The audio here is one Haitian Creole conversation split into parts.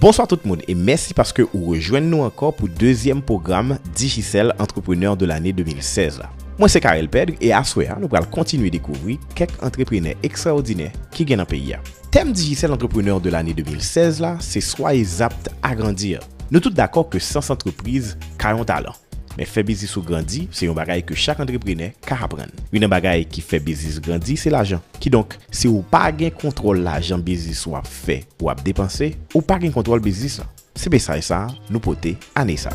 Bonswa tout moun e mèsi paske ou rejwenn nou ankò pou dezyèm pwogram Digicel Entrepreneur de l'année 2016 la. Mwen se Carel Pedre e aswè a nou pral kontinye dekouvri kèk antreprenè ekstraòdinè ki gen nan peyi a. Tèm Digicel Entrepreneur de l'année 2016 la se Soyez apte à grandir. Nou tout dakò ke sans antrepriz ka yon talan. Men fè biznis ou grandi se yon bagay ke chak antreprenè ka aprann. Youn nan bagay ki fè biznis grandi se lajan. Kidonk, si ou pa gen kontwòl lajan biznis ou ap fè, ou ap depanse, ou pa gen kontwòl biznis lan. Se mesaj sa nou pote ane sa.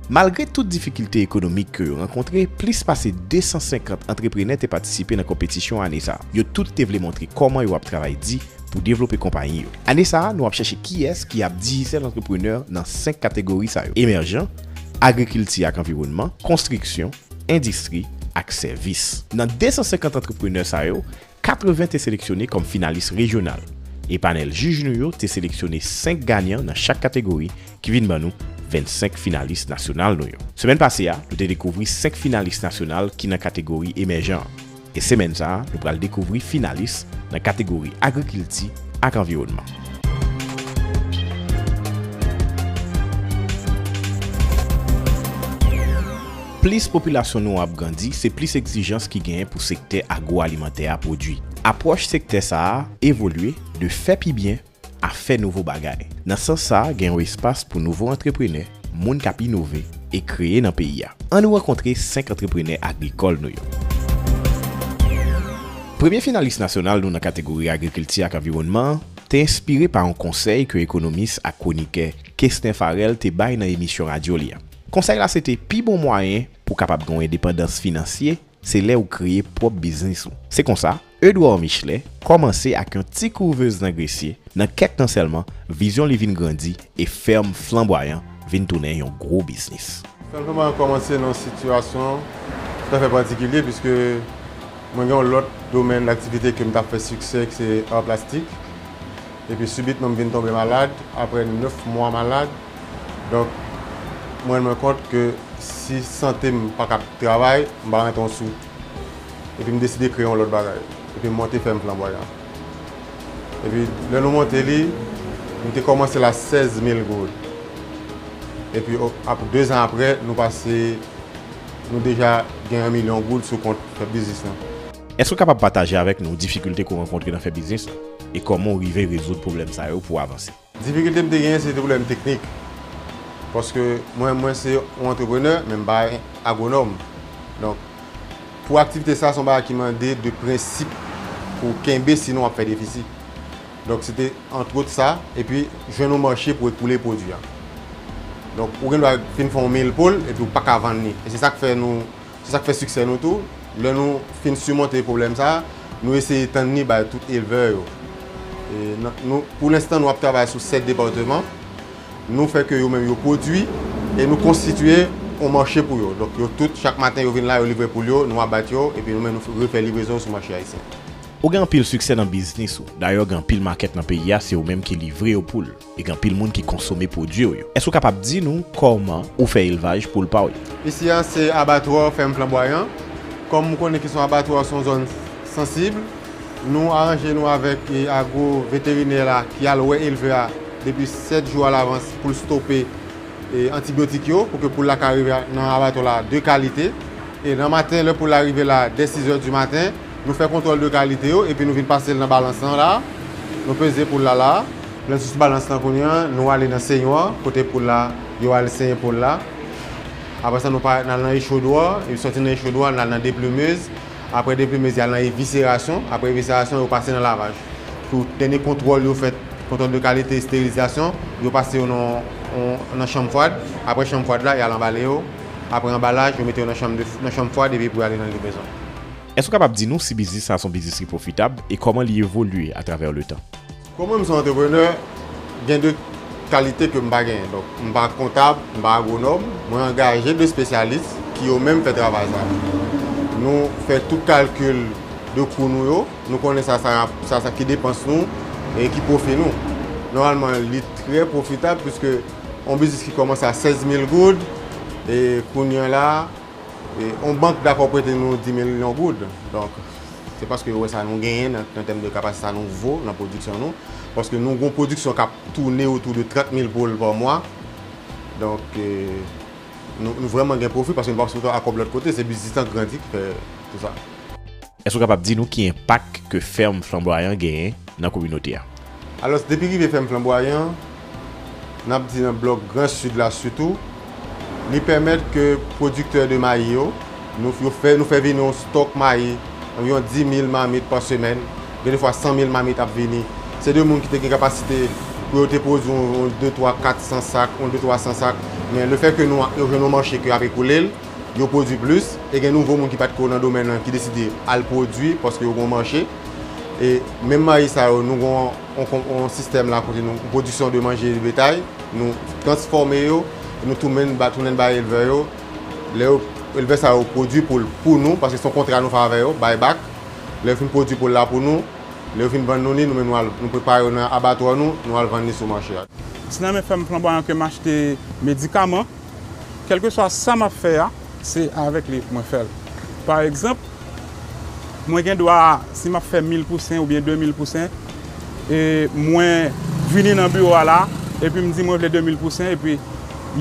Malgre tout difikilte ekonomik ke yo rankontre, plis pase 250 antreprenè te patisipe nan konpetisyon ane sa. Yo tout te vle montre kòman yo ap travay di, pou devlope konpayi yo. Ane sa a, nou ap chèche kiyès ki ap dijisèl antreprenè nan 5 kategori sa yo, emèjan, agrikilti ak anviwònman, konstriksyon, endistri ak sèvis. Nan 250 antreprenè sa yo, 80 te seleksyone kòm finalis rejyonal, e panèl jij nou yo te seleksyone 5 ganyan nan chak kategori ki vin ban nou 25 finalis nasyonal nou yo. Semèn pase a, nou te dekouvri 5 finalis nasyonal ki nan kategori emèjan an. E semèn sa a, nou pral dekouvri finalis nan kategori Agrikilti ak Anviwònman. Plis popilasyon nou an ap grandi, se plis egzijans ki genyen pou sektè agwo-alimantè a pwodui. Apwòch sektè sa a evolye de fè pi byen a fè nouvo bagay. Nan sans sa a gen yon espas pou nouvo antreprenè, moun k ap inove e kreye nan peyi a. Annou rankontre 5 antreprenè agrikòl nou yo. Premye finalis nasyonal nou nan kategori agrikilti ak anviwònman an te enspire pa yon konsèy ke ekonomis ak kwonikè Kesner Pharel te bay nan emisyon radyo li a. Konsèy la se te pi bon mwayen pou kapab gen yon endepandans finansye se lè ou kreye pwòp biznis ou. Se konsa, Edouard Michelet kòmanse ak yon ti kouvez nan Gresye, nan kèk tan sèlman, vizyon li vin grandi e fèm Flanbwayan vin tounen yon gwo biznis. Fèm Flanbwayan kòmanse nan yon sitiyasyon toutafè patikilye piske mwen gen yon lòt domèn daktivite ke m t ap fè siksè ki se ar plastik epi sibitman m vin tonbe malad aprè 9 mwa malad donk m rann mwen kont ke si sante m pa ka ap travay m pa rantre yon sou. Epi m deside kreye yon lòt bagay. Epi m monte fèm Flanbwa Yan. Epi lè nou monte li, nou te kòmanse l a 16 mil goud. Epi 2 zan aprè, nou pase, nou deja gen 1 milyon goud sou kont fè biznis lan. Èske w kapab pataje avèk nou difikilte ke w rankontre nan fè biznis lan? E kòman w rive rezoud pwoblèm sa yo pou w avanse? Difikilte m te genyen se te pwoblèm teknik. Paske mwen mwen se yon antreprenè men m pa agwonòm. Donk pou aktivite sa se yon bagay ki mande de prensip pou w kenbe sinon w ap fè defisi. Donk se te antwot sa epi jwenn yon mache pou w ekoule pwodui a. Donk ou gendwa fin fè yon mil po l epi ou paka vann li. E se sa k fè nou. Se sa k fè siksè nou tou. Lè nou fin simonte pwoblèm sa a, nou eseye tann ni bay tout elvè yo. Pou lenstan nou ap travay sou 7 departeman. Nou fè ke yo menm yo pwodui e nou konstitye yon mache pou yo. Donk yo tout, chak maten yo vin la, yo livre poul yo, nou abat yo epi nou menm nou refè livrezon yo sou mache ayisyen. Ou gen anpil siksè nan biznis ou. Dayè gen anpil makèt nan peyi a, se ou menm ki livre yo poul. E gen anpil moun ki konsome pwodwi w yo. Èske ou kapab di nou kòman ou fè elvaj poul pa w yo? Isi a se abatwa fèm Flanbwayan. Kòm ou konnen kesyon abatwa se yon zòn sansib, nou aranje nou avèk agwo veterinè la ki al wè elvè a depi 7 jou alavans pou l stope antibyotik yo pou ke poul la ka rive nan abatwa la de kalite. E nan maten lè poul la rive la dè 6 è di maten, nou fè kontwòl de kalite yo epi nou vin pase l nan balans lan la a, nou peze poul la la a. Nan sous balans lan kounye a, nou ale nan senyò a, kote poul la, yo al senye poul la. Apre sa nou pa, n al nan echodwa, yo sòti nan echodwa, n al nan deplumez. Apre deplumez, y al nan evisserasyon. Apre evisserasyon, yo pase nan lavaj. Pou dènye kontwòl yo fèt, kontwòl de kalite, esterilizasyon, yo pase yo nan yon, nan chanm fwad. Apre chanm fwad la, y al anbale yo. Apre anbalaj, yo mete yo nan chanm de, nan chanm fwad epi pou y ale nan livrezon. Èske w kapab di nou si biznis sa a se yon biznis ki pwofitab e kòman li evolye atravè letan? Kòm mwen m se antreprenè, gen 2 kalite ke m pa genyen. Donk, m pa kontab, m pa agwonòm. Mwen angaje 2 spesyalis ki yo menm fè travay sa a. Nou fè tout kalkil de kou nou yo, nou konnen sa sa rap, sa sa ki depans nou e ki pwofi nou. Nòmalman, li trè pwofitab piske yon biznis ki kòmanse a 16 mil goud e kounye an la, Yon bank dakò prete nou 10 milyon goud, donk se paske yo wè sa nou genyen nan tèm de kapasite, sa nou vo nan pwodiksyon nou, paske nou gen yon pwodiksyon k ap toune otou de 30 mil poul pa mwa, donk nou vrèman gen pwofi paske nou pa sipote akòb lòt kote, se biznis lan grandi ki fè tout sa. Èske ou kapab di nou ki enpak ke fèm Flanbwayan genyen nan kominote a? Alòs, depi rive fèm Flanbwayan, n ap di nan blòk gran Sid la sitou, li pèmèt ke pwodiktè de mayi yo, nou fè nou fè vini yon stòk mayi anviwon 10 mil mamit pa semèn, gen de fwa 100 mil mamit ap vini. Se de moun ki te gen kapasite pou yo te pwodui yon de twa kat san sak, yon de twa san sak, men le fè ke nou jwenn yon mache ke y ap ekoule l, yo pwodui plis e gen nouvo moun ki pat ko nan domèn lan ki deside al pwodui paske yo gen yon mache e menm mayi sa yo nou gen yon sistèm la kote nou pwodiksyon de manje de betay nou transfòme yo e nou tounen l bay elvè yo lè yo elvè sa yo pwodui pou l pou nou paske son kontra nou fè avè yo bay bak lè yo fin pwodui pou l la pou nou lè yo fin vann nou li nou menm nou al nou prepare yo nan abatwa nou nou al vann li sou mache a. Ti nan men fèm flanbwayan ke m achte medikaman. Kèlkeswa sa m ap fè a, se avèk li mwen fè l. Pa egzanp, mwen gen dwa, si m ap fè mil pousen oubyen demil pousen, e mwen vini nan biwo a la, epi m di mwen vle demil pousen, epi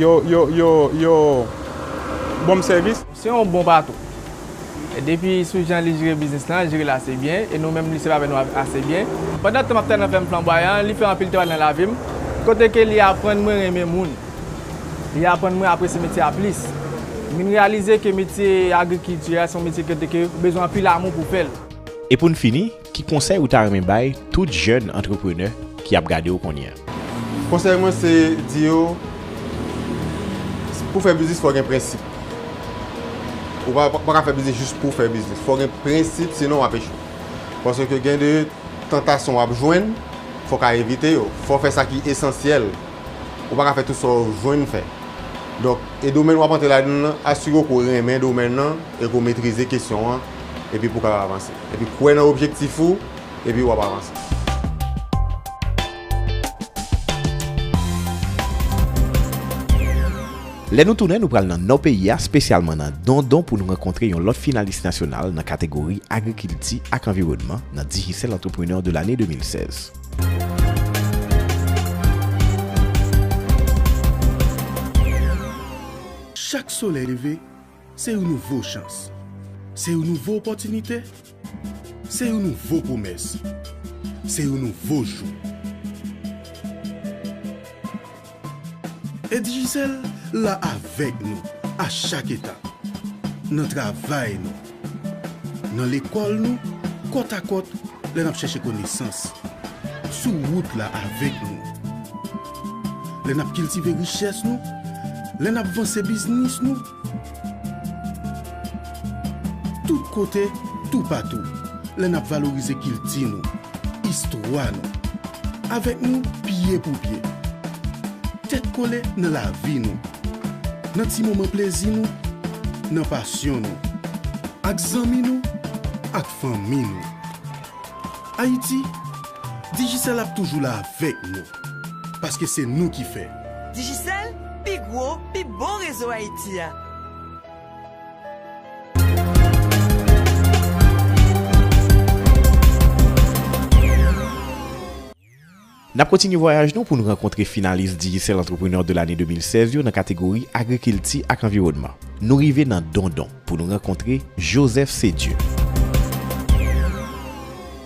yo ban m sèvis. Se yon bon patron. Depi sou jan li jere biznis lan, li jere l ase byen e nou menm li sèvi avè nou ase byen. Pandan tan m ap travay nan fèm Flanbwayan an, li fè anpil travay nan lavi m, kote ke li aprann mwen renmen moun. Li aprann mwen apresye metye a plis. M vin reyalize ke metye agrikilti a se yon metye kote ke ou bezwen anpil amou pou w fè l. E pou n fini, Ki konsèy ou ta renmen bay tout jèn antreprenè ki ap gade w kounye a? Konsèy mwen se di yo, pou fè biznis fò w gen prensip. Ou pa ka fè biznis jis pou w fè biznis. Fò w gen prensip sinon w ap echwe. Paske gen de tantasyon w ap jwenn, fò w ka evite yo. Fò w fè sa ki esansyèl. Ou pa ka fè tout sa w jwenn fè. Donk, e domèn w ap antre ladan l lan, asire w ke w renmen domèn lan e ke w metrize kesyon an. epi pou w kapab avanse. Epi kwè nan objektif ou epi w ap avanse. Lè nou tounen, nou pral nan Nò peyi a, spesyalman nan Dondon pou nou rankontre yon lòt finalis nasyonal nan kategori Agrikilti ak Anviwònman nan Digicel Entrepreneur de l'année 2016. Chak solèy leve, Se yon nouvo chans. Se yon nouvo opòtinite. Se yon nouvo pwomès. Se yon nouvo jou. E Digicel la avèk nou a chak etap. Nan travay nou. Nan lekòl nou, kòt a kòt lè n ap chèche konesans. Sou wout la avèk nou. Lè n ap kiltive richès nou. Lè n ap vanse biznis nou. Tout kote, toupatou. Lè n ap valorize kilti nou, istwa nou. Avèk nou, pye pou pye. Tèt kole nan lavi nou. Nan ti moman plezi nou. Nan pasyon nou. Ak zanmi nou, ak fanmi nou. Ayiti, Digicel ap toujou la avèk nou. Paske se nou ki fè. Digicel, pi gwo, pi bon rezo Haïti a. N ap kontinye vwayaj nou pou n rankontre finalis Digicel Entrepreneur de l'année 2016 yo nan kategori Agrikilti ak Anviwònman. Nou rive nan Dondon pou nou rankontre Joseph Cedieu.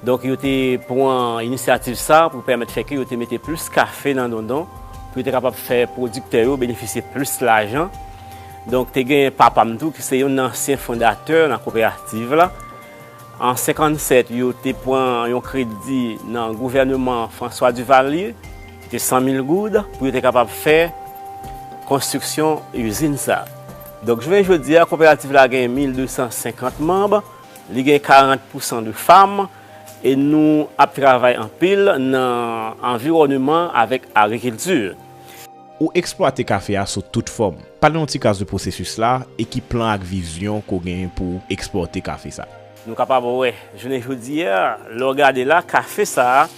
Donk yo te pran inisyativ sa pou pèmèt fè ke yo te mete plis kafe nan Dondon pou yo te kapab fè pwodiktè yo benefisye plis lajan. Donk te gen papa m tou ki se youn nan ansyen fondatè nan koperativ la. An 57 yo te pran yon kredi nan gouvèneman François Duvalier ki te 100 mil goud pou yo te kapab fè konstriksyon izin sa. Donk jounen jodi a koperativ la gen 1250 manb. Li gen 40 pousan de fam e nou ap travay anpil nan anviwòneman avèk agrikilti. Ou eksplwate kafe a sou tout fòm. Pale yon ti kras de pwosesis la e ki plan ak vizyon ke w genyen pou w eksplwate kafe sa. Nou kapab wè jounen jodi a, lè w gade la, kafe sa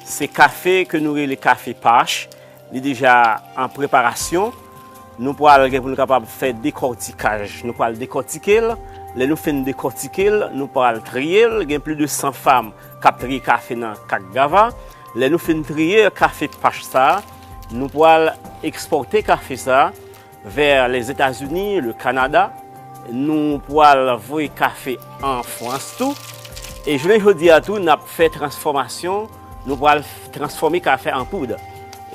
se kafe ke nou rele kafe pach. Li deja an preparasyon. Nou pral gen pou nou kapab fè dekòtikaj. Nou pral dekòtike l. Lè nou fin dekòtike l, nou pral triye l. Gen plis de 100 fam k ap triye kafe nan Kak Gava. Lè nou fin triye kafe pach sa a, nou pral ekspòte kafe sa a. Vers les États-Unis, le Canada, nou pwal voye kafe an Frans tou. E jounen jodi a tou nap fè transfòmasyon, nou pwal transfòme kafe an poud.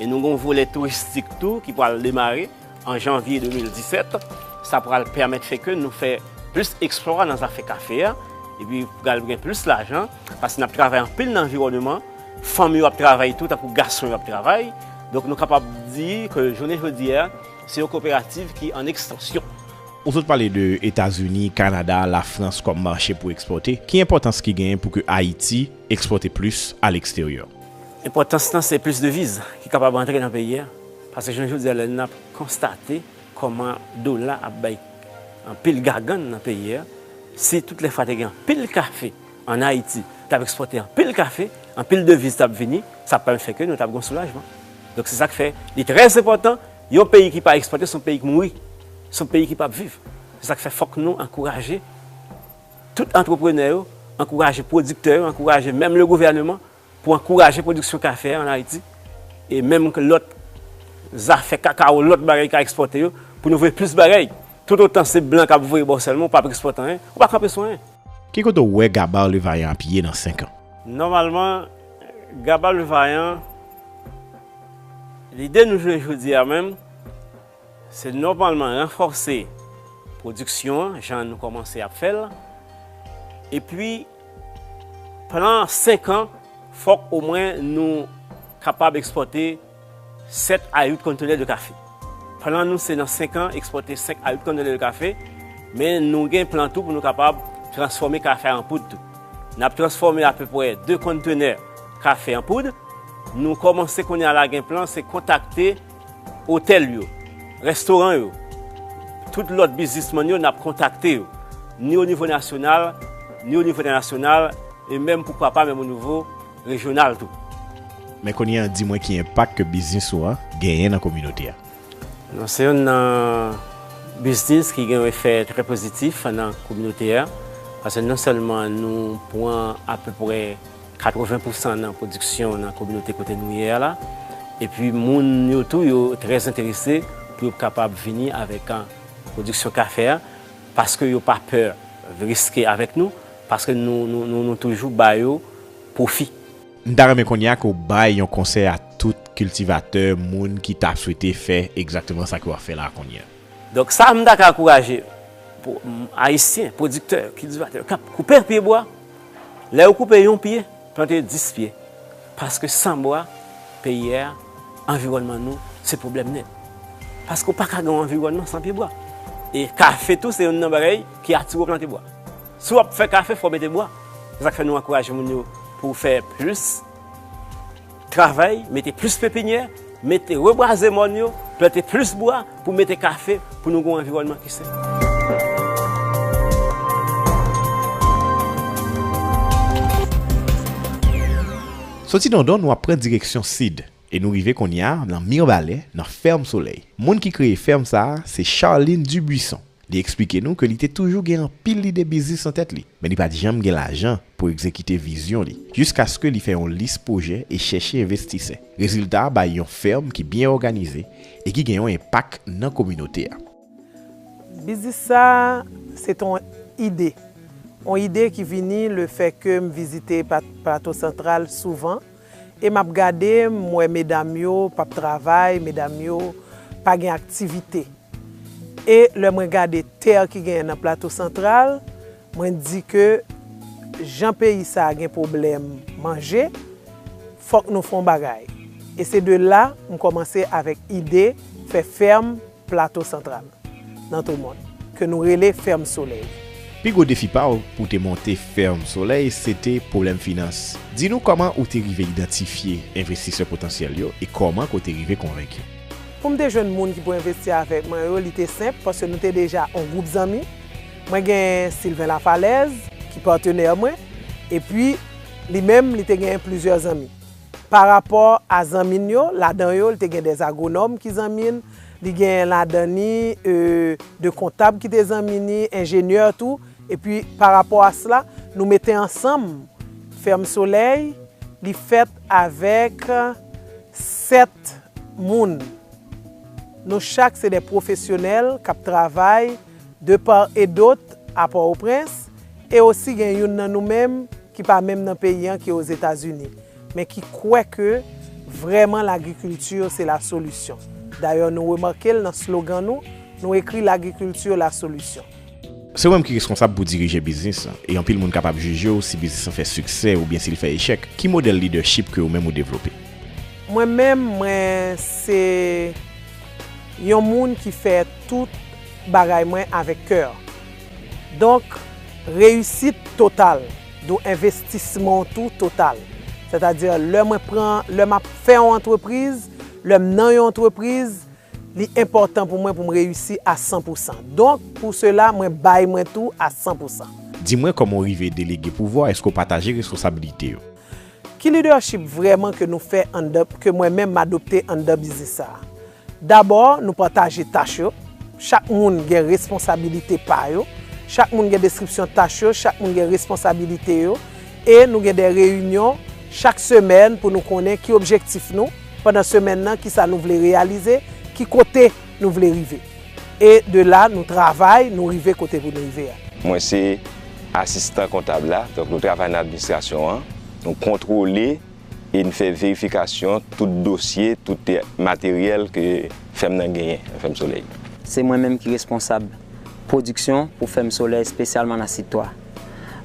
E nou gon volè touristik tou ki pwal demare an Janvye 2017. Sa pwal pèmèt fè ke nou fè plis eksplwa nan zafè kafe a. E pi pwal gen plis lajan. Paske n ap travay anpil nan anviwòneman, fanm yo ap travay tou tankou gason yo ap travay. Donk nou kapab di ke jounen jodi a, se yon koperativ ki an ekstansyon. Ou sot pale de Etazini, Kanada, Lafrans kòm mache pou ekspòte. Ki enpòtans ki genyen pou ke Ayiti ekspòte plis a leksteryè? Enpòtans lan se plis deviz ki kapab antre nan peyi a. Paske jounen jodi a lè n ap konstate kòman dola ap bay anpil gagann nan peyi a, si tout lè fwa te gen anpil kafe, An Ayiti, t ap ekspòte anpil kafe, anpil deviz t ap vini, sa pral fè ke nou t ap gen yon soulajman. Donk se sa k fè li trè enpòtan, yon peyi ki pa ekspòte se yon peyi k mouri, se yon peyi ki p ap viv. Se sa k fè fòk nou ankouraje tout antreprenè yo, ankouraje pwodiktè yo, ankouraje menm le gouvèneman Pou ankouraje pwodiksyon kafe an Ayiti e menm lòt zafè kakawo, lòt bagay ka ekspòte yo, pou nou voye plis bagay. Toutotan se blan k ap voye ba w sèlman, w pa p ekspòte anyen, ou pa kanpe sou anyen. Ki kote w wè Gabar Le Vaillant ap ye nan 5 an? Nòmalman, Gabar Le Vaillant, lide nou jwenn jodi a menm, Se nòmalman ranfòse pwodiksyon an jan nou kòmanse ap fè l. Epi plan senk an fòk omwen nou kapab ekspòte 7 a 8 kontenè de kafe. Plan nou se nan senk an ekspòte 5 a 8 kontenè de kafe, men nou gen plan tou pou nou kapab transfòme kafe a an poud tou. N ap transfòme apepwè 2 kontenè kafe an poud. Nou kòmanse kounye a la gen plan se kontakte. Otèl yo, restoran yo, tout lòt biznisman yo nap kontakte yo, ni o nivo nasyonal, ni o nivo entènasyonal, e menm poukwa pa menm o nivo rejyonal tou. Men kounye an di mwen ki enpak ke biznis ou an genyen nan kominote a? Nou se youn nan biznis ki gen yon efè trè pozitif nan kominote a, paske non sèlman nou pran apeprè. 80 pou san nan pwodiksyon nan kominote kote nou ye a la, epi moun yo tou yo trè enterese pou yo kapab vini avèk pwodiksyon kafe a, paske yo pa pè riske avèk nou, paske nou toujou ba yo pwofi. M ta renmen kounye a ke w bay yon konsèy a tout kiltivatè, moun ki ta swete fè egzakteman sa ke w ap fè la a kounye a. Donk sa m ta ka ankouraje Ayisyen, pwodiktè, kiltivatè k ap koupe pye bwa, lè yo koupe yon pye, plante dis pye. Paske san bwa, peyi a, anviwònman nou, se pwoblèm nèt. Paske ou pa ka gen yon anviwònman san pye bwa. E kafe tou se youn nan bagay ki atire ou plante bwa. Si w ap fè kafe fò w mete bwa. Se sa k fè nou ankouraje moun yo pou fè plis. Travay, mete plis pepinyè, mete rebwaze mòn yo, plante plis bwa pou mete kafe pou nou gen yon anviwònman ki sen. Soti Dondon nou ap pran direksyon sid e nou rive kounye a nan Mirbalè nan Fèm Solèy. Moun ki kreye fèm sa a se Charline Dubuisson Li eksplike nou ke li te toujou gen anpil lide biznis nan tèt li, men li pa t janm gen lajan pou egzekite vizyon li, jiskaske li fè yon lis pwojè e chèche envestisè. Rezilta a bay yon fèm ki byen òganize e ki gen yon enpak nan kominote a. Biznis sa a, se te yon ide. Yon ide ki vini lefè ke m vizite Plato Santral souvan. E map gade m wè medam yo pap travay medam yo pa gen aktivite e lè mwen gade terre ki genyen nan plato santral mwen t di ke jan peyi sa gen pwoblèm manje fòk nou fon bagay e se de la m kòmanse avèk ide fè ferme Plato Santral, nan tou mòn, ke nou rele Fèm Solèy. Pi gwo defi pa w pou w te monte Fèm Solèy se te pwoblèm finans. Di nou kòman ou te rive idantifye envestisè potansyèl yo e kòman ke w te rive konvenki. Pou m te jwenn moun ki pou envesti avèk mwen yo, li te senp paske nou te deja yon gwoup zanmi. Mwen gen Sylvain Lafalaise ki patenè mwen, epi li menm li te gen plizyè zanmi. Pa rapò a zanmi n yo, ladan yo li te gen de agwonòm ki zanmi n, li gen ladan ni de kontab ki te zanmi ni, enjenyè tou, epi pa rapò a sla, nou mete ansanm Fèm Solèy, li fèt avèk 7 moun. Nou chak se de pwofesyonèl k ap travay. de part et d'autre a Port-au-Prince, e osi gen youn nan nou menm ki pa menm nan peyi an ki Ozetazini, men ki kwè ke vrèman lagrikilti se la solisyon. Dayè nou remake l nan slogan nou, nou ekri lagrikilti la solisyon. Se ou menm ki reskonsab pou dirije biznis lan, e anpil moun kapab jije w si biznis lan fè siksè oubyen si l fè echèk, ki modèl lidèchip ke ou menm ou devlope? Mwen menm, mwen se. yon moun ki fè tout bagay mwen avèk kè. Donk, reyisit total dou envestisman w tou total. Sètadi, lè mwen pran, lè m ap fè yon antrepriz, lè m nan yon antrepriz, li enpòtan pou mwen pou m reyisi a san pou san. Donk, pou sela, mwen bay mwen tou a san pou san. Di mwen kòman w rive delege pouvwa w, èske w pataje responsabilite yo? Ki leadership vrèman ke nou fè anndan, ke mwen menm m adopte anndan biznis sa a? Dabò, nou pataje tach yo, chak moun gen responsabilite pa yo, chak moun gen deskripsyon tach yo, chak moun gen responsabilite yo, e nou gen de reyinyon chak semèn pou nou konnen ki objektif nou pandan semèn nan, kisa nou vle reyalize, ki kote nou vle rive. e de la nou travay nou rive kote pou nou rive a. Mwen se asistan kontab la, donk nou travay nan administrasyon an, nou kontwole e n fè verifikasyon tout dosye, tout materyèl ke fèm nan genyen, fèm solèy. Se mwen menm ki responsab pwodiksyon pou fèm solèy espesyalman nan Sid 3.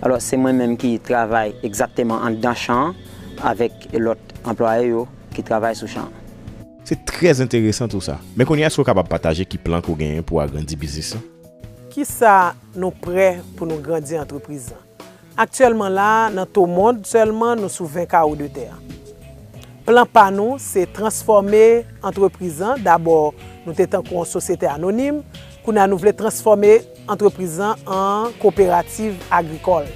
Alò se mwen menm ki travay egzakteman anndan chan an avèk lòt anplwaye yo ki travay sou chan an. Se trè enteresan tou sa. Men kounye a èske ou kapab pataje ki plan ke ou genyen pou agrandi biznis lan? Kisa nou prè pou nou grandi antrepriz lan? Aktyèlman la a, nan Tomond sèlman nou sou 20 kawo de tè. Plan pa nou se transfòme antrepriz lan, dabò nou te tankou yon sosyete anonim, kounye a nou vle transfòme. Antrepriz lan an koperativ agrikòl.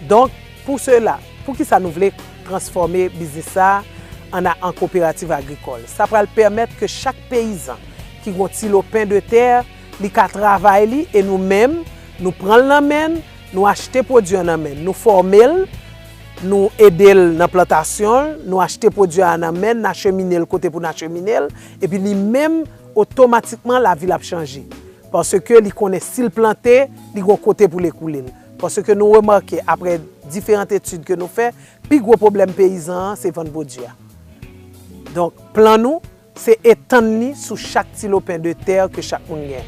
Donk, pou sela, poukisa nou vle transfòme biznis sa a an a an koperativ agrikòl? Sa pral pèmèt ke chak peyizan ki gon ti lo pen de tè, li ka travay li e nou menm, nou pran l nan men n, nou achte pwodui an nan men n, nou fòme l, nou ede l nan plantasyon l, nou achte pwodui a nan men n, n achemine l kote pou n achemine l, epi li menm, otomatikman lavi l ap chanje. Paske li konnen si l plante, li gon kote pou l ekoule l. Paske nou remake aprè diferant etid ke nou fè, pi gwo pwoblèm peyizan an se vann pwodui a. Donk, plan nou, se etann li sou chak ti lopen de tè ke chak moun gen.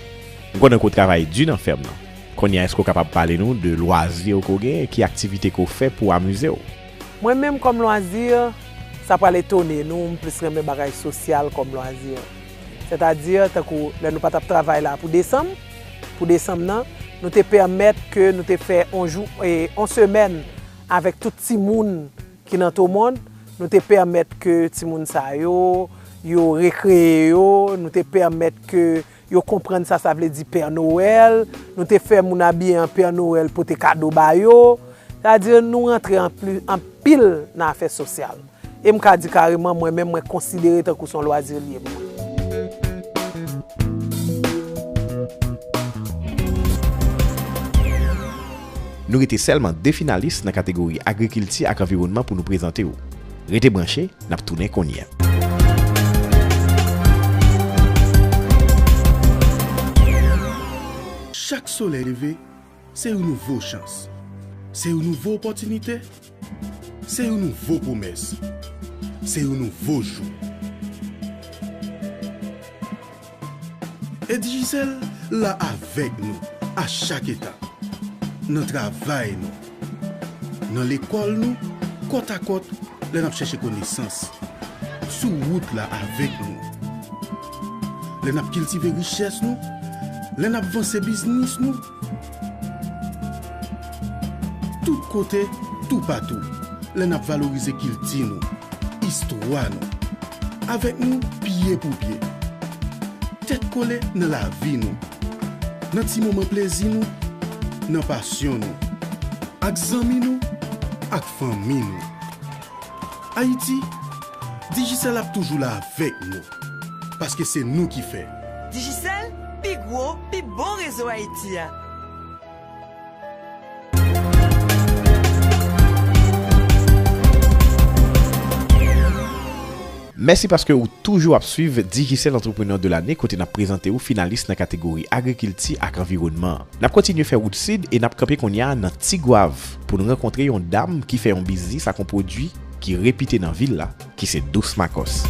M konnen ke w travay di nan fèm nan. Kounye a èske w kapab pale nou de lwazi ou ke w genyen? Ki aktivite ke w fè pou w amize w? Mwen menm kòm lwazi, sa pral etone nou, m plis renmen bagay sosyal kòm lwazi. Sètadi, tankou lè nou pa t ap travay la pou desanm, pou desanm nan, nou te pèmèt ke nou te fè yon jou, yon semèn avèk tout timoun ki nan Tomond, nou te pèmèt ke timoun sa yo, yo rekreye yo, nou te pèmèt ke yo konprann sa sa vle di Pè Nowèl, nou te fè moun abiye an Pè Nowèl pote kado ba yo. Sètadi, nou rantre anpil nan afè sosyal. E m ka di kareman mwen menm mwen konsidere tankou son lwazi l ye pou mwen. Nou rete sèlman 2 finalis nan kategori Agrikilti ak Anviwònman pou nou prezante w. Rete branche, n ap tounen kounye. Chak solèy leve. Se yon nouvo chans. Se yon nouvo opòtinite. Se yon nouvo pwomès. Se yon nouvo jou. E Digicel la avèk nou a chak etap, nan travay nou, nan lekòl nou, kòt a kòt lè n ap chèche konesans, sou wout la avèk nou. lè n ap kiltive richès nou, lè n ap vanse biznis nou. Tout kote, toupatou, lè n ap valorize kilti nou, istwa nou. Avèk nou, pye pou pye. Tèt kole nan lavi nou, nan ti moman plezi nou, nan pasyon nou, ak zanmi nou, ak fanmi nou. Ayiti, Digicel ap toujou la avèk nou, paske se nou ki fè. Digicel, pi gwo, pi bon rezo Ayiti a. Mèsi paske ou toujou ap swiv Digicel Entrepreneur de l'année kote n ap prezante ou finalis nan kategori Agrikilti ak Anviwònman. N ap kontinye fè wout sid e n ap kanpe kounye a nan Tigwav pou n rankontre yon dam ki fè yon biznis ak yon pwodui ki repite nan vil la, ki se Douce Makòs.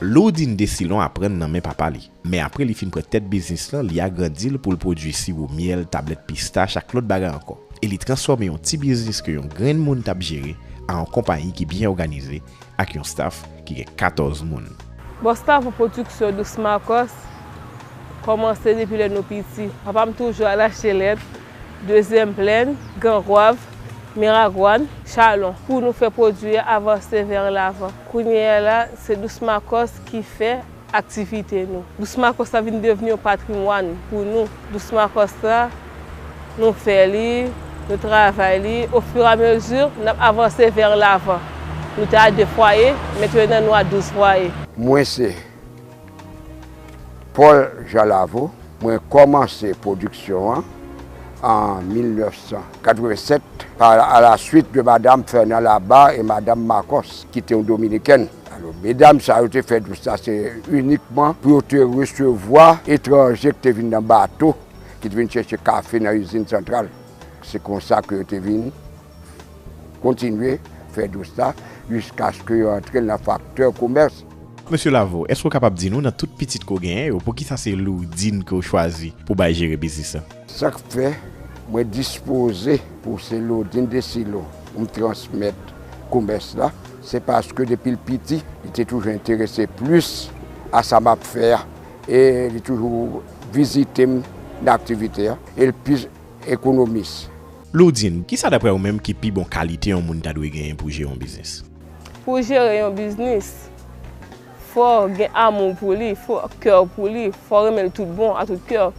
Lourdine Desilon aprann nan men papa li, men apre li fin pran tèt biznis lan li agrandi l pou l pwodui siwo myèl, tablèt pistach ak lòt bagay ankò e li transfòme yon ti biznis ke yon grenn moun t ap jere a yon konpayi ki byen òganize ak yon staf ki gen 14 moun. Bon staf pou pwodiksyon Dous Makòs kòmanse depi lè nou piti. Papa m toujou Alachelèt, Dezyèm Plèn, Gran Gwav, Miragwàn, Chalon pou nou fè pwodui a avanse vè an lavan. Kounye a la se Dous Makòs ki fè Aktivite nou. Dous Makòs la vin devni yon patrimwàn pou nou. Dous Makòs la, nou fè li, nou travay li, ofiramezi n ap avanse vè lavan. Nou te a de fwaye, mentenan nou a douz fwaye. Mwen se Paul Jean Lavaud, mwen kòmanse pwodiksyon an an 1987 pa alaswit de Madam Fernand Labarre e Madam Makòs ki te yon dominikèn. Alò, medam sa yo te fè dous la se inikman pou yo te resevwa etranje ki te vin nan bato, ki te vin chèche kafe nan izin santral. Se konsa ke yo te vin kontinye fè dous la jiskaske yo antre l nan faktè komès. Mesye Lavo, èske ou kapab di nou nan tout pitit ke w genyen yo, poukisa se Lourdine ke w chwazi pou w bay jere biznis la? Sa k fè mwen dispoze pou se Lourdine Desillo pou m transmèt komès la? Se paske depi l piti, li te toujou enterese plis a sa m ap fè a. E li toujou vizite m nan aktivite a. E l pi ekonomis. Lourdine, kisa daprè ou menm ki pi bon kalite yon moun ta dwe genyen pou jere yon biznis? Pou w jere yon biznis, fò w gen amou pou li, fò kè w pou li, fò w renmen l tout bon, a tout kè w.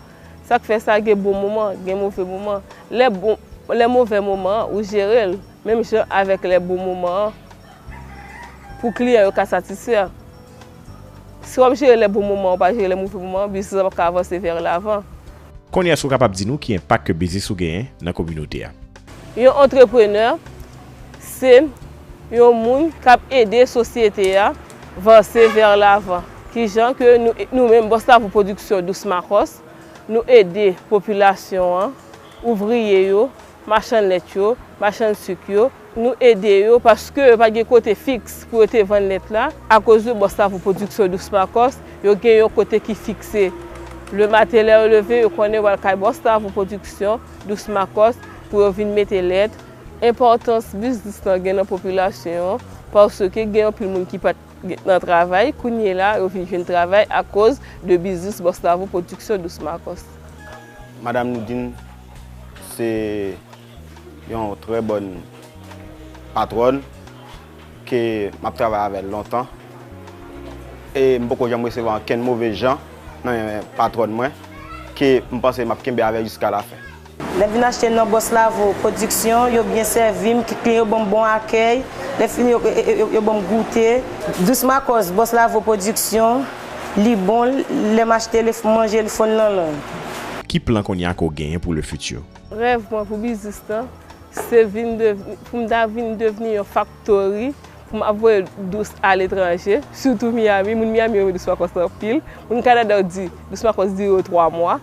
Sa k fè sa gen bon moman, gen move moman. Lè move moman an, ou jere l. Menm jan avèk lè bon moman an, pou kliyan yo ka satisfè, si w ap jere lè bon moman an ou pa jere lè move moman an, biznis la pap ka avanse vè lavan. Kounye a èske ou kapab di nou ki enpak ke biznis ou genyen nan kominote a? Yon antreprenè se yon moun k ap ede sosyete a vanse vè lavan. Ki jan ke nou menm Bòs Lavou Pwodiksyon Dous Makòs nou ede popilasyon an, ouvriye yo, machann lèt yo, machann suk yo, nou ede yo paske yo pa gen kote fiks pou yo te vann lèt la, akoz de bòs la pou pwodiksyon dous makòs, yo gen yon kote ki fikse. Le maten lè yo leve yo konnen yo pral kay bòs la pou pwodiksyon dous makòs pou yo vin mete lèt. Enpòtans biznis lan gen nan popilasyon an, paske gen anpil moun ki pat nan travay, kounyela yo vin jwenn travay akoz de biznis bòs la pou pwodiksyon dous makòs. Madam Nidine se yon trè bòn patwòn ke m ap travay avè l lontan e m poko janm resevwa ankenn move jan nan men patwòn mwen ke m panse m ap kenbe avè l jiska lafen. Lè m vin achte nan Boss Lavo Production, yo byen sèvi m, tout kliyan yo ban m bon akèy, lè fini yo ban m goute. Douce Marcos, Boss Lavo Production. Li bon lèm achte le manje le fon nan lang. Ki plan kounye a ke w genyen pou le futur? Rèv mwen pou biznis lan se vin devni, pou m ta vin devni yon faktori pou m ap voye dous a letranje, sitou Miami. Moun Miami renmen dous makòs lan anpil. Moun Kanada yo di dous makòs dire yo 3 mwa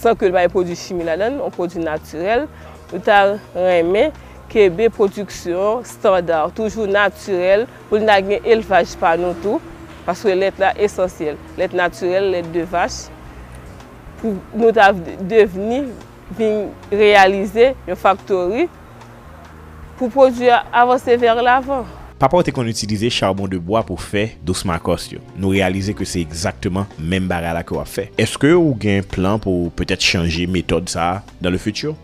san ke l pa gen pwodui chimi ladan l, yon pwodui natirèl. Nou ta renmen kenbe pwodiksyon standard, toujou natirèl. Pou n ta gen elvaj pa nou tou, paske lèt la esansyèl. Lèt natirèl, lèt de vach, pou nou ta devni, vin reyalize yon faktori pou pwodui a avanse vè lavan. Papa w te konn itilize charbon de bwa pou fè Dos Marcos yo. Nou reyalize ke se egzakteman menm bagay la ke w ap fè. Eske ou gen plan pou w petèt chanje metòd sa a dans le futur?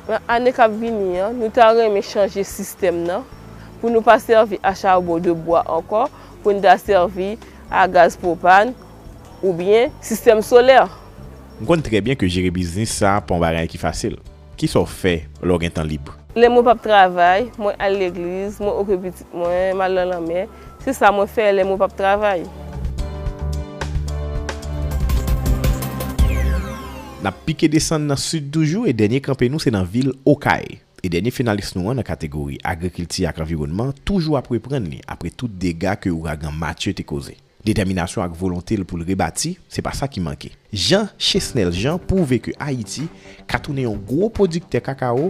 Nan ane k ap vini an, nou ta renmen chanje sistèm nan pou nou pa sèvi a charbon de bwa ankò pou n ta sèvi a gaz pwopàn oubyen sistèm solè. M konn trè byen ke jere biznis sa pa yon bagay ki fasil. Kisa w fè lè w gen tan lib? Lè mwen p ap travay, mwen al legliz, mwen oke pitit mwen, m al nan lanmè. Se sa mwen fè lè mwen pap travay. N ap pike desann nan Sid toujou e dènye kanpe nou se nan vil Okay. E dènye finalis nou an nan kategori Agrikilti ak Anviwònman toujou ap reprann li apre tout dega ke ouragan Matye te koze. Detèminasyon ak volonte l pou l rebati, se pa sa ki manke. Jean Chesnel Jean pwouve ke Ayiti ka tounen yon gwo pwodiktè kakawo,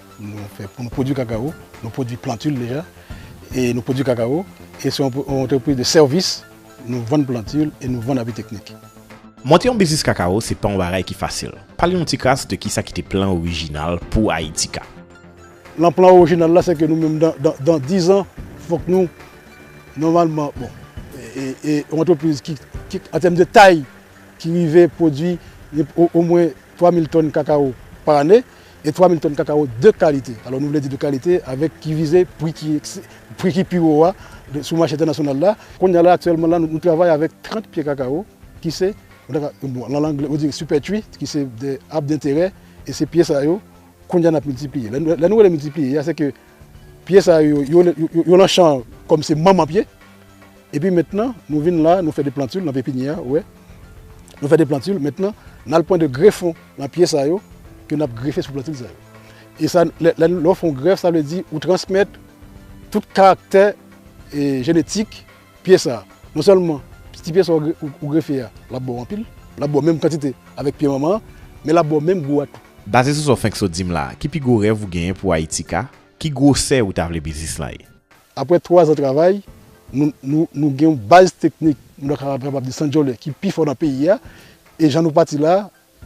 Pou nou pwodwi kakawo, nou pwodwi plantil deja, e nou pwodwi kakawo, e se yon antrepriz de sèvis, nou vann plantil e nou vann api teknik. Monte yon biznis kakawo se pa yon bagay ki fasil. Pale yon tikras de kisa ki te plan orijinal pou Ayitika. Lan plan orijinal la se ke nou menm dan dizan fòk nou nòmalman bon e yon antrepriz ki an tèm de tay ki rive pwodwi omwen 3 mil tòn kakawo pa ane, E 3 mil tòn kakawo de kalite. Alò nou vle di de kalite avèk ki vize pri ki pri ki pi wo a sou mache entènasyonal la. Kounye a la aktyèlman la nou travay avèk 30 pye kakawo ki se bon lan lang yo di sipètwi ki se de ab denterè e se pye sa yo kounye a n ap miltipliye. Lè nou rele miltipliye a se ke Pye sa yo, yo lan chan kòm se manman pye. Epi mentnan, nou vin la, nou fè de plantil nan pepinyè a, ou wè. Nou fè de plantil, mentnan, n al pran de grefon nan pye sa yo ke n ap grefe sou plantil sa yo. E sa, lè w fè yon grèf, sa vle di ou transmèt tout karaktè jenetik. Pye sa, non sèlman ti pye sa ou grefe a, l ap ba w anpil, l ap ba w menm kantite avèk pye manman an, men l ap ba w menm gou a tou. Baze sou sa w fenk sot di m la a, ki pi gwo rèv ou genyen pou Ayiti ka? Ki gwosè ou ta vle biznis lan ye? Aprè twazan travay, nou gen yon baz teknik nou ta kapab di Sandjolè ki pi fò nan peyi a, e jan nou pati la,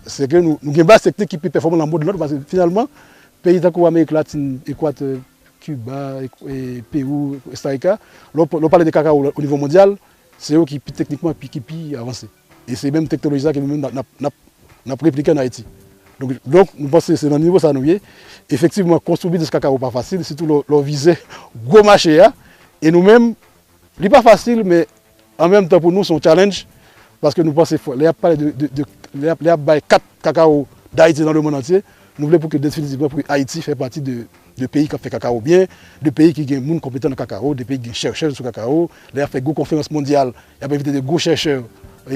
se ke nou gen baz teknik ki pi pèfòman nan mond lan tou, paske finalman, peyi tankou Amerik Latin, Ekwatè, Kiba, Pewou, Kostarika, lè w pale de kakawo o nivo mondyal, se yo ki teknikman ki pi avanse. E se menm teknoloji sa ke nou menm n ap replike an Ayiti. Donk, nou panse se nan nivo sa nou ye. Efektivman, konstwi biznis kakawo pa fasil, sitou lè w vize gwo mache a. E nou menm, li pa fasil men An menm tan pou nou se yon challenge paske nou panse fwa lè yap pale de lè yap bay kat kakawo dayiti nan lemond antye nou vle pou ke definitivman pou ayiti fè pati de peyi kap fè kakawo byen de peyi ki gen moun konpetan nan kakawo de peyi ki gen chèrchè sou kakawo lè yap fè gwo konferans mondyal yap envite de gwo chèrchè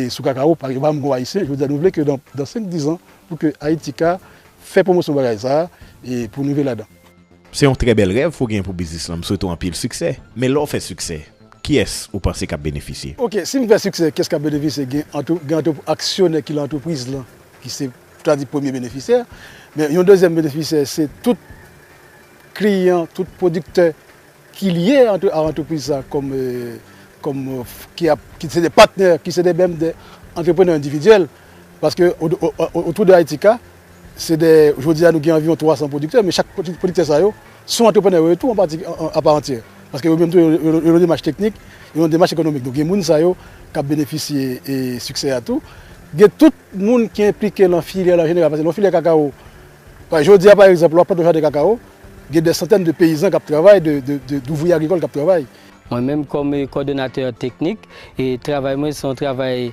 sou kakawo pa menm gwo ayisyen jodi a nou vle ke dan 5 10 an pou ke ayiti ka fè pwomosyon bagay sa pou nou rive ladan. Se yon trè bèl rèv pou w genyen pou biznis lan, m swete w anpil siksè. Men lè w fè siksè, kiyès ou panse k ap benefisye? Ok, si m fè siksè, kiyès k ap benefisye? Gen aksyonè ki lan antrepriz lan ki se ta di premye benefisyè, men yon dezyèm benefisyè se tout kliyan, tout pwodiktè ki lye a antrepriz sa kòm ki se de patnè, ki se de menm de antreprenè endividyèl paske otou de Ayiti ka. Se de, jodi a nou gen anviwon 300 pwodiktè, men chak pwodiktè sa yo, se yon antreprenè yo ye tou an pati, a pa antyè. Paske yo menm tou yo nan yon demach teknik, yo nan demach ekonomik. Donk gen moun sa yo k ap benefisye siksè a tou. Gen tout moun ki enplike lan filyè la an jeneral. Paske lan filyè kakawo, jodi a pa egzanp, lè w ap plante yon jaden kakawo, gen dè santèn de peyizan k ap travay, de douvriye agrikòl k ap travay. Mwen menm kòm kòdonatè teknik, travay mwen se yon travay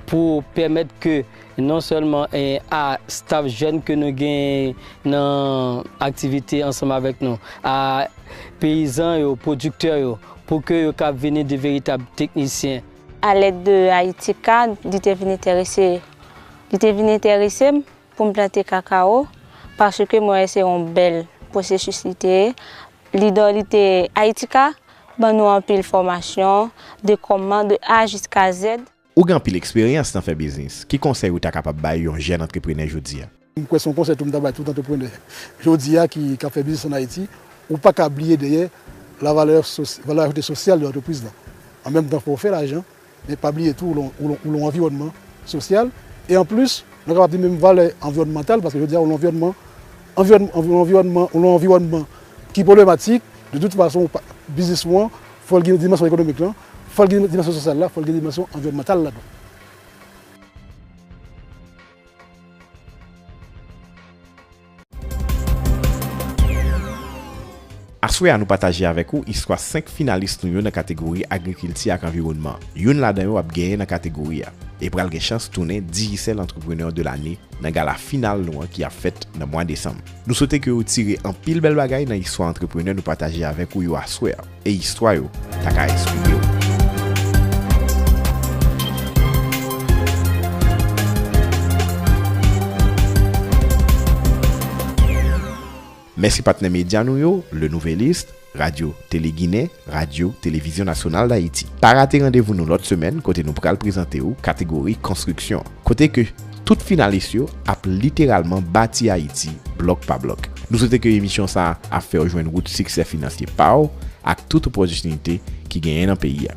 pou pèmèt ke. Non sèlman a staff jèn ke nou genyen nan aktivite ansanm avèk nou, a peyizan yo, pwodiktè yo, pou ke yo kab vini de veritab teknisyen. A lèd de Haiti Card, li te vin enterese, li te vin enterese m pou m plante kakao, paske mwen wè se yon bèl pwosesis li te ye. Li dò li te, Haiti Card ban nou anpil fòmasyon de kòman, de A jiska Z. Ou gen anpil eksperyans nan fè biznis, ki konsèy ou ta kapab bay yon jèn antreprenè jodi a? M kwè se yon konsèy tou m ta bay tout antreprenè jodi a ki k ap fè biznis an Ayiti, ou pa ka bliye dèyè la valè valè ajoute sosyal de antrepriz lan. An menm tan fò w fè lajan, men pa bliye tou ou lan anviwònman sosyal e an plis mwen kapab di menm valè anviwònmantal paske jodi a ou lan anviwònman anviwònman ou lan anviwònman ki pwoblematik de tout fason biznis ou an Fòl gen dimansyon ekonomik lan, fòl gen dimansyon sosyal la, fòl gen dimansyon anviwònmantal la tou. Aswè a nou pataje avèk ou istwa 5 finalis nou yo nan kategori Agrikilti ak Anviwònman. Youn ladan yo ap genyen nan kategori a e pral gen chans tounen Digicel Entrepreneur de l'année nan gala final nou an ki ap fèt nan mwa Desanm. Nou swete ke ou tire anpil bèl bagay nan istwa antreprenè nou pataje avèk ou yo aswè a, e istwa yo ta ka enspire ou. Mèsi patnè medya nou yo, Le Nouvelliste, Radyo Tele Ginen, Radyo Televizyon Nasyonal Dayiti. Pa rate randevou nou lòt semèn kote nou pral prezante ou kategori Konstriksyon, kote ke tout finalis yo ap literalman bati Ayiti blòk pa blòk. Nou swete ke emisyon sa ap fè ou jwenn wout siksè finansye pa ou ak tout opòtinite ki genyen nan peyi a.